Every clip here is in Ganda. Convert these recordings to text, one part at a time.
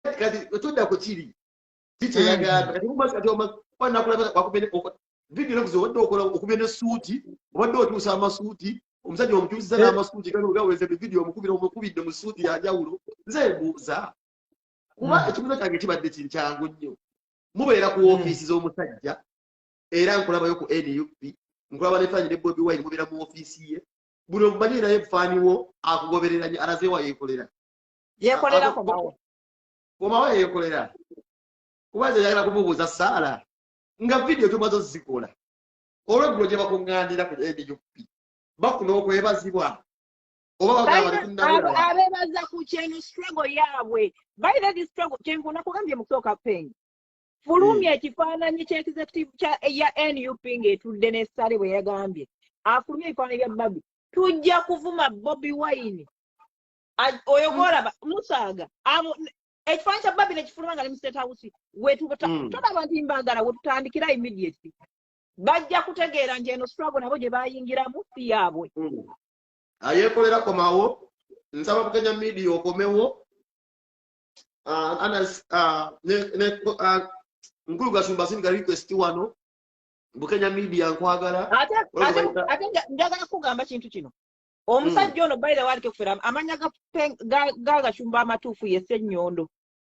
kati tudda ku kiri kiki yagamba kati kumazi kati omakuba nakulaba wakubene vidiyo nakuzi obadde okola okubye ne suuti obadde otuusa amasuuti omusajja omukyusiza n'amasuuti gano gaweze bividiyo omukubira omukubidde mu suuti yanjawulo nze mbuuza kuba hmm. ekibuzo kyange kibadde kinkyangu nnyo mubeera ku ofiisi hmm. z'omusajja era nkulabayo ku nup nkulaba nefaanyi ne bobi wine mubeera mu ofiisi ye buli omumanyi naye faaniwo akugobereranye alazeewa yekolera yekolera komawo komawo yekolera kuba nze yagala kumubuuza saala nga vidiyo tumaze ozikola olweggulo gye bakuŋŋaanira ku nup bafuna okwebazibwa abebaza ku kyeno struggle yaabwe by the struggle kyenku nakugambye mukusooka peng fulumya hmm. ekifaananyi kyekizekitivu kya eya nup ng'etudde ne sale bwe yagambye afulumya ebifaananyi bya babi tujja kuvuma bobi wine oyo gwolaba musaaga ekifaanyi kya babi nekifuluma nga ne mustate house wetutolaba hmm. nti mbaagala wetutandikira immediately bajja kutegeera nti eno struggle nabo gye bayingiramu si yaabwe hmm. ayekolera komawo nsaba bukenya midia okomewo ah, ah, ah, nkulu gasumba singa request wano bukenya midia nkwagala ate njagala kugamba kintu kino omusajja hmm. ono by the way alikufera amanya gagashumba amatuufu ye senyondo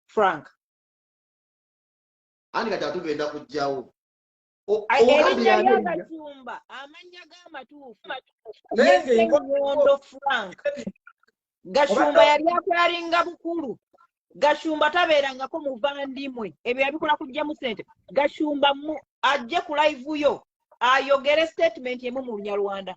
frank ani kati atugenda kujjawo erinnya lyagashumba amanya gamatuufu ye senyondo frank gashumba yali akwalinga bukulu gashumba tabeerangako muvandimwe ebyo yabikola kujjamu sente gashumba ajje ku live yo ayogere statement emu mu lunyarwanda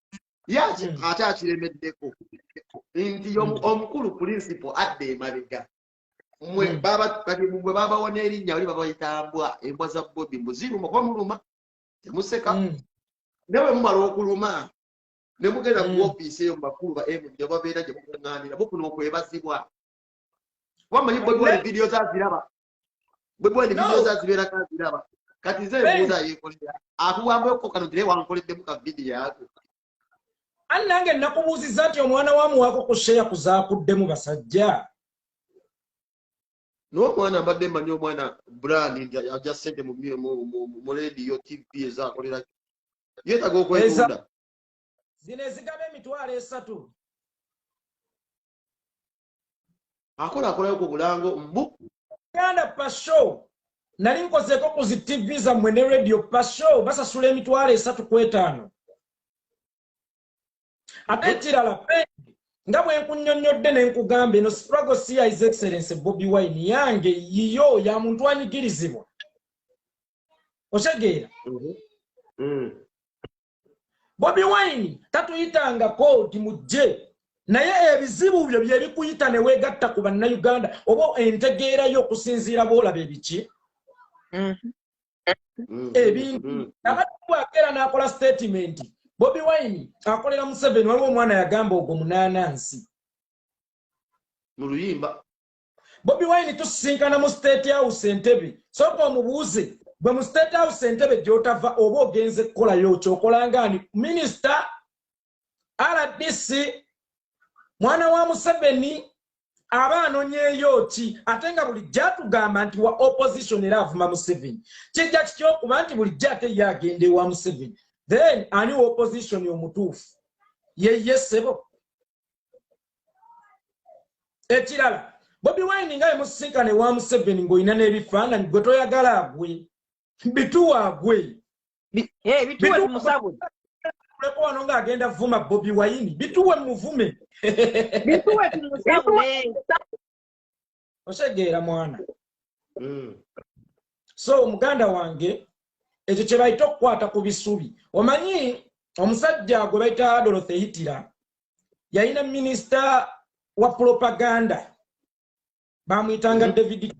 yaki hmm. ate akiremeddeko nti hmm. omukulu pulinsipo adda emabega mwe hmm. babagwe babawona erinnya oli babayita mbwa embwa za bobi mbuziruma kuba muluma temuseka nawe mumala okuluma ne mugenda ku ofiisi eyo mubakulu ba md obabeera gye mukuŋŋaanira mufuna okwebazibwa kuba manyi bobi wali vidiyo zaziraba bwebwandi video zazibeera kaziraba kati nze ebuuza yekolera akuwambeko kano tire wankoleddemu ka vidiyo ako ani nange nakubuuzizza nti omwana wamuwaako ku sheya kuzakuddemu basajja naye omwana mbadde mmanyi omwana brand nti aja sente mu lediyo tv ezakolera yetaga okwetunda zino ezigaba emitwalo esatu akola akolayo ku bulango mbu uganda pasho nali nkozeeko ku zi tv zammwe ne radio pasho basasula emitwalo esatu ku etaano ate ekirala pendi nga bwe nkunyonnyodde ne nkugamba eno sprago cia is excellence bobi wine yange yiyo ya muntu anyigirizibwa otegeera mm-hmm. mm. bobi wine tatuyitanga kodi mujje naye ebizibu byo byebikuyita newegatta ku bannayuganda oba entegeerayo okusinziira boolaba ebiki mm-hmm. ebintu mm-hmm. abatwakeera n'akola sitatimenti bobi wine akolera museveni waliwo omwana yagamba ogwo munaanansi mu luyimba bobi wine tusisinkana mu state house entebe soka omubuuze gwe mu state house entebe gyotava oba ogenze kukolayo kyokolangaani minisita rdc mwana wa museveni aba anonyeeyo ki ate nga bulijjo atugamba nti wa opposition era avuma museveni kijja kitya okuba nti bulijjo ate ye agenda ewa museveni then ani wa opposition omutuufu yeyesebo ekirala bobi wine nga emusinkana ewa museveni ng'olina n'ebifaananyi gwe toyagala agwe bituwa agwe eh, bituwe tumusabwe tuleko wano ng'agenda vuma bobi wayini bituwe muvume bituwe tumusabwe otegeera mwana hmm. so omuganda wange ekyo kye bayita okukwata ku bisubi omanyi omusajja gwe bayita adoloth eyitira yalina minisita wa propaganda bamuyitanga hmm. david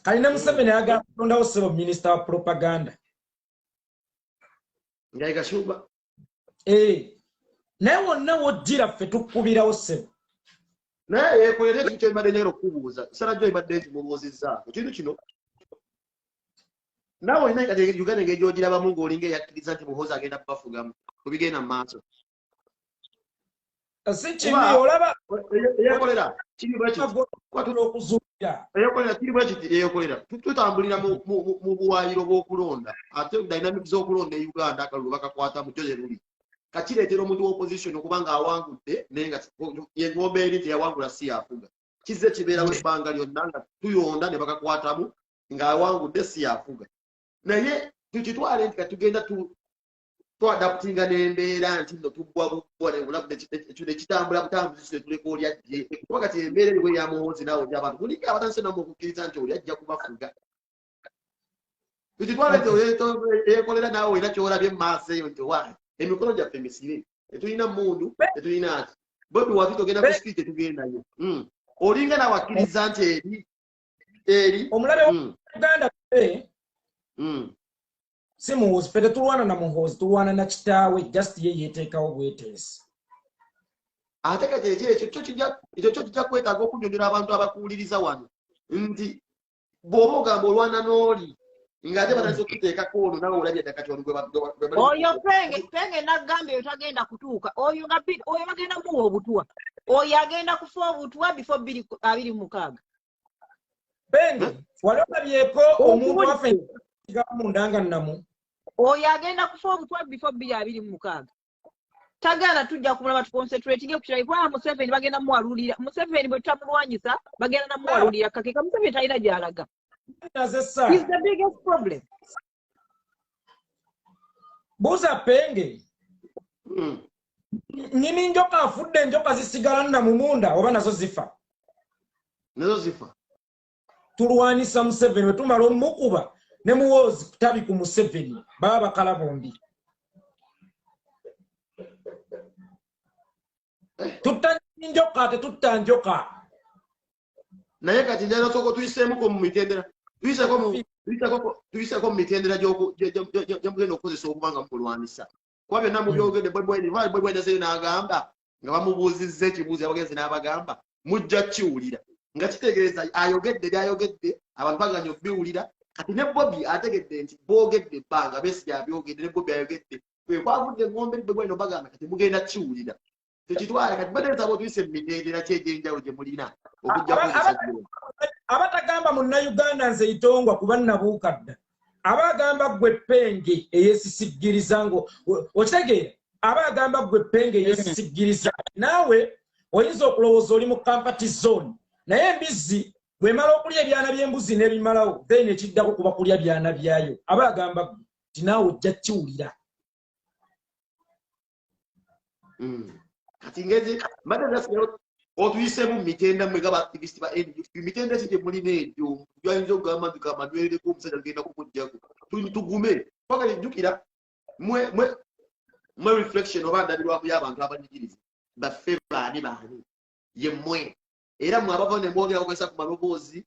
kali ne museveni ayagala kutondawo sebo minisita wa propaganda eh. naye wonna wojjira ffe tukubirawo sebo naye yekolera ekintu kyebadde nyagala okukubuuza sala jo ebadde nti mubuuzizza ekintu kino nawe olina uganda engeri gyogirabamu ngaolinga eyakkiriza nti muhoozi agenda kubafugamu kubigenda mu maaso si kibi olaba eyekolera kiri bwekitiokuzuukira eyekolera kiri bwekiti eyekolera tutambulira mu buwaayiro bw'okulonda ate dynamic z'okulonda e uganda akalulu bakakwata mu joye luli kakireetera omuntu w'opposition okuba nga awangudde naye nga engomba eri nti yawangula si yafuga kizze kibeerawo ebbanga lyonna nga tuyonda ne bakakwatamu ng'awangudde si yafuga naye tukitwale nti katugenda twadaputinga nembeera nti no tugwa bugwa nebulamu nekitambula butambuzi kyetuleka oli ajje kuba kati embeera eriwo eyamuhoozi naawe oli abantu mulinga abatandise namu okukkiriza nti oli ajja kubafuga kititwale nti eyekolera naawe olina kyolabye mumaaso eyo nti owaye emikono gyaffe misibe tetulina mundu tetulina ati bobi watu togenda ku sipii tetugendayo hmm. olinga naawe akkiriza nti eri eri omulabe hmm. uganda hmm. si muhoozi fe tetulwana na muhoozi tulwana na kitaawe just ye yeteekawo bweteesi ate kati ekyo ekyo kyo kijja ekyo kyo kijja kwetaaga okunyonyola abantu abakuwuliriza wano nti bw'oba ogamba olwana n'oli ng'ate batandise okuteekako ono nawe olabye dda kati oyo penge penge nagamba eyo tagenda kutuuka oyo nga oyo bagenda muwa obutwa oyo agenda kufa obutwa bifo abiri mukaaga bendi wali olabyeko omuntu wafe munda nga namu oyo agenda kufa obutwa bifo bbiri abiri mu mukaaga tagaana tujja kumulaba tuconcentratinge kukirali kubanga museveni bagenda muwalulira museveni bwe tutamulwanyisa bagenda namuwalulira kakeka museveni talina gyalaga is the biggest problem buuza penge hmm. nyini njoka afudde enjoka zisigala nna mumunda oba nazo zifa nazo zifa tulwanisa museveni wetumala omukuba ne muwoozi kutabi ku museveni baba bakala bombi tutta njoka tetutta njoka naye kati njagala sooka tuyiseemuko mu mitendera tuyiseeko mu mitendera gyemugenda okukozesa okuba nga mukulwanisa kuba byonna mubyogedde bwebwenazeyo n'agamba nga bamubuuzizza ekibuuzo abagenzi n'abagamba mujja kiwulira nga kitegeeza ayogedde byayogedde abantu baganya okubiwulira kati ne bobi ategedde nti boogedde ebbanga besi gyabyogedde ne bobi ayogedde kwekwavudde engombe bwebweno bagamba kati mugenda kiwulira tukitwale kati bade nsaba otuyise mu mitendera ki egy'enjawulo gye mulina abatagamba munnayuganda nze itongwa kuba nnabuuka dda aba agamba ggwe ppenge eyesisiggiriza ngo okitegeera aba agamba ggwe ppenge eyesisiggiriza naawe oyinza okulowooza oli mu kampati zone naye embizzi bwemala okulya ebyana by'embuzi n'ebimalawo then ekiddako kuba kulya byana byayo aba agamba ggwe ti naawe ojja kiwulira mm. kati ngezi mbadde nasigala otuyisemu mitenda mwe gaba activist ba NUP mitenda ki gye mulina egyo gyayinza okugamba nti kamadwerereko omusajja agenda kumuggyako tugume kwagala ejjukira mwe mwe mwe reflection oba ndabirwamu y'abantu abanyigiriza baffe baani baani ye mwe era mwe abava ne mwogera mugasa ku maloboozi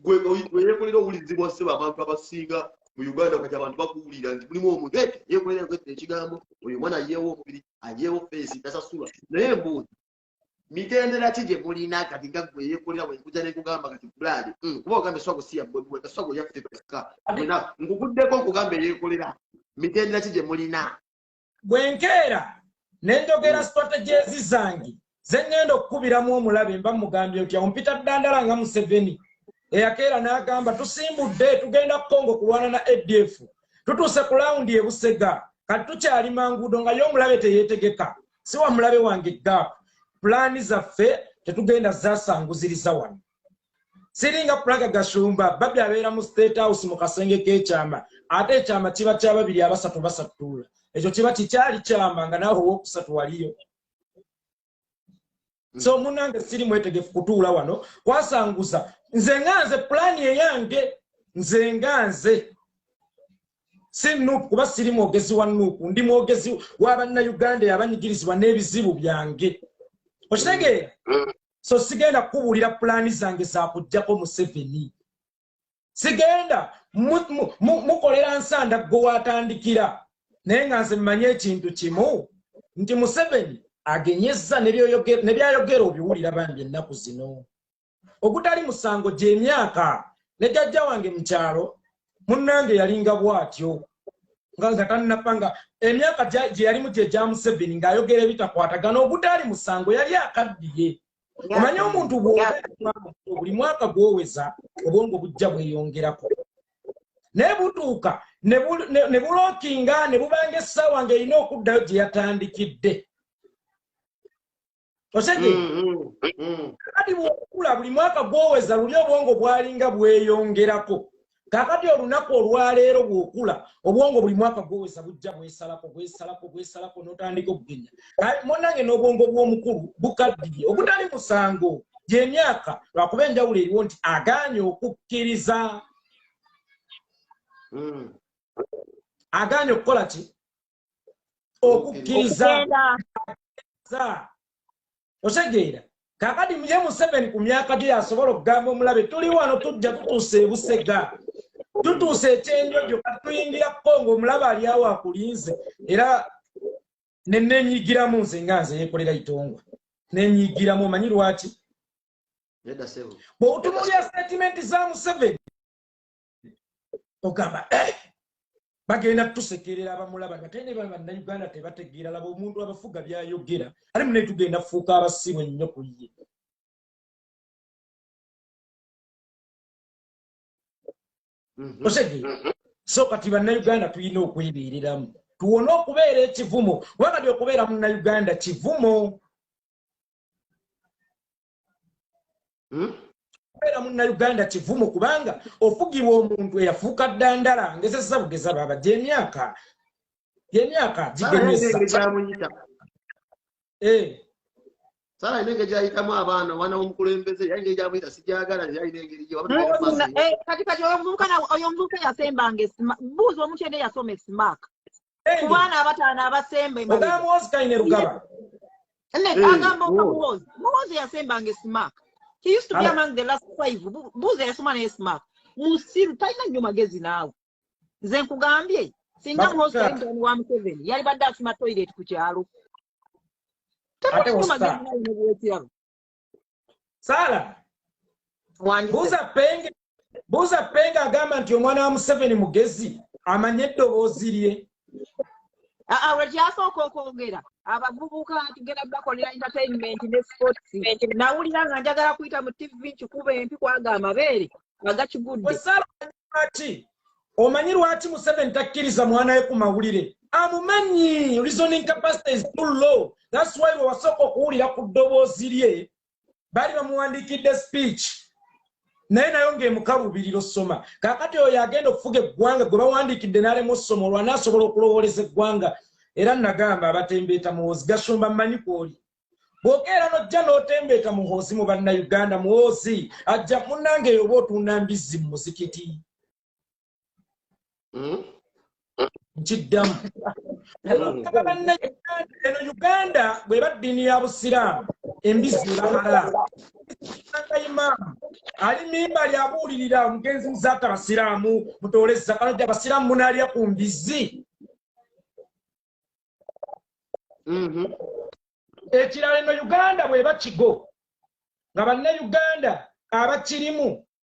gweyekolera owulizibwa seba abantu abasinga mu uganda kati abantu bakuwulira nti mulimu omuntu e yekolera kwetta ekigambo oyo omwana ayeewo omubiri ayeewo feesi tasasula naye embuuzi mitendera ki gye mulina kati nga gwe yekolera wenkuja nekugamba kati bulaadi hmm, kuba ogambe swago si yabwebweka swago yaffe bweka nkugudeko nkugamba eyekolera mitendera ki gye mulina bwenkeera ne njogera mm. strategies zange ze ŋŋenda okukubiramu omulabe mba mugambye otya ompita ddandala nga museveni eyakeera n'agamba tusimbudde tugenda kukongo kulwana na adf tutuuse ku lawundi ebusega kati tukyali manguudo nga ye omulabe teyeetegeka si wa mulabe wange gap pulaani zaffe tetugenda zasanguziriza wano siringa pulaga gashumba babi abeera mu state house mu kasenge k'ekyama ate ekyama kiba kya babiri abasatu basattuula ekyo kiba kikyali kyama nga naawe owokusatu waliyo so munange siri mwetegefu kutuula wano kwasanguza nze nga nze pulaani eyange nze nga nze si nuupu kuba siri mwogezi wa nuupu ndi mwogezi w'abannayuganda yabanyigirizibwa n'ebizibu byange okitegeera mm. so sigenda kukubuulira pulaani zange zakujjako museveni sigenda mukolera nsanda gwe watandikira naye nga nze mmanye ekintu kimu nti museveni agenyezza nebyayogera obiwulira bambi ennaku zino ogutali musango gyemyaka ne jajja wange mukyalo munnange yalinga bw'atyo nga nga tannappa nga emyaka gye yalimu gye gya museveni ng'ayogera ebitakwatagana ogutaali musango yali akaddiye omanye omuntu buli mwaka gwoweza obwongo bujja bweyongerako naye butuuka ne bulookinga ne bubanga essaawa ng'erina okuddayo gye yatandikidde osege mm, mm, kakati bwokula buli mwaka gwoweza luli obwongo bwalinga bweyongerako kakati olunaku olwaleero bwokula obwongo buli mwaka gwoweza bujja bwesalako bwesalako bwesalako notandika okugenya munange n'obwongo bw'omukulu bukaddiye ogutali musango gyemyaka lwakuba enjawulo eriwo nti aganye okukkiriza mm. aganye okukola ki okukkiriza otegeera kakati ye museveni ku myaka gye yasobola okugamba omulabe tuli wano tujja tutuusa ebusega tutuusa ekyenjojo kati tuyingira kongo omulabe ali awo akulinze era nenenyigiramu nze nga nze yekolera itongwa nenyigiramu omanyi lwaki bwebutumulya sitatimenti za museveni ogamba eh, bagenda tusekerera abamulaba nga tene baba na Uganda tebategeera laba omuntu abafuga byayogera ali mune tugenda fuuka abasimu ennyo ku ye mhm. osegi mhm. so kati banna Uganda tulina okwebeereramu tuwone okubeera ekivumo kubanga byokubeera munna Uganda kivumo hmm? kubeera munnauganda kivumo kubanga ofugibwa omuntu eyafuuka ddandala ngezezza bugeza baaba gyemyaka gyemyaka gigemyesaamuyita eh. sala alina engeri gyayitamu abaana omwana womukulembeze yali ngeri gyamuyita sigyagala yalina engeri gyekatikati eh, oyo omuvubuka yasembanga buuza omuntu yena eyasoma esimaaka ku baana abataano abasemba ogamba muwozi kaine lugaba agamba oka muwozi muwozi yasembanga esimak he used to be among the last five buuza yasoma naye esimak musiru talina nnyo magezi naawe nze nkugambye singa muhozi kaine wa museveni yali badde asima toilet ku kyalo tebuli magezi naawe nebwekiraba saala buza penge buza penge agamba nti omwana wa museveni mugezi amanye eddoboozi lye aa lwekyasooka okwogera abavubuka tugenda bakolera entertainment ne sports nawulira nga njagala kuyita mu tv nkikuba empi kwaga amabeere agakigudde lwaki omanyi lwaki museveni takkiriza mwana we ku mawulire amumanyi reasoning capacity is too low thats why wewasooka okuwulira ku ddoboozi lye baali bamuwandiikidde speech naye nayo ngaemukalubirira osoma kakati oyo agenda okufuga eggwanga gwe bawandiikidde nalemu osoma olwanasobola okulowooleza eggwanga era nagamba abatembeeta muwozi gashumba mmanyi kwoli bwokeera nojja notembeeta muhoozi mu bannauganda muhoozi ajja munange eyo oba otunda mbizzi mu muzikiti hmm? nkiddamu hmm. eno uganda bweba ddiini ya busiraamu embizzi ebahalaamu nga imaamu ali mimba lyabuulirira omugenzi muzaata abasiraamu mutoole zaka nojja abasiraamu munaalya ku mbizzi mm-hmm. ekirala eno uganda bweba kigo nga bannauganda abakirimu